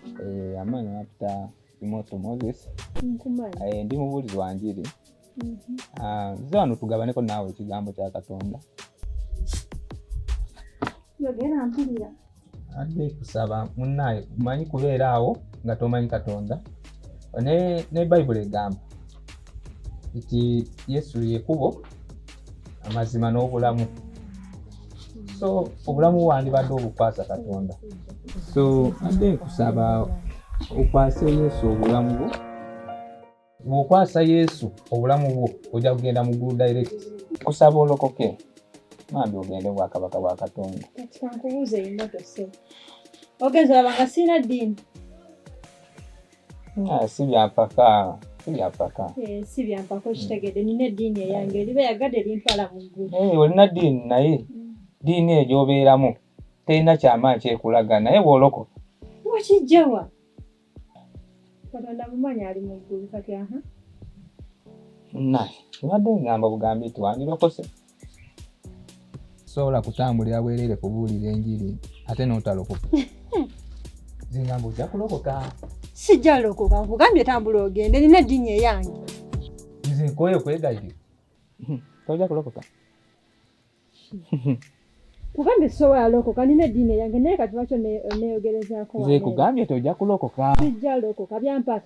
Eh, amaana nakuta imoto moses eh, ndi mubuulizi wa njiri mhm. ah, nze wano tugabaneko naawe ekigambo kya katonda yogera mpulira adde kusaba munaaye manyi kubeera awo nga tomanyi katonda ne bayibuli egamba nti yesu yekubo amazima n'obulamu so obulamu wandibadde obukwasa katonda so adde nkusaba okwase yesu obulamu bwo bwokwasa yesu obulamu bwo ojja kugenda mu gulu direct kusaba olokoke mambi ogende obwakabaka bwa katonda ogenza wabanga siina ddiini Ah, si byampaka si byampaka eh, si byampaka okitegedde nina eddiini eyange eriba yagadde erintwala mu ggulu eh, olina ddiini naye mm. ddiini eyo gyobeeramu terina kyamaanyi kyekulaga naye bwoloko wakijjawa katonda mumanyi ali mu ggulu kati aha naye ebadde ngamba bugambi nti wandirokose sobola kutambulira bwereere kubuulira enjiri ate n'otalokoka zingamba ojja kulokoka sijja lokoka nkugambye tambula ogende nina eddiini eyange nze nkooye okwegayirira tojja kulokoka kugambye sobola lokoka nina eddiini eyange naye kati lwaki oneyogerezaako nze kugambye tojja kulokoka sijja lokoka byampaka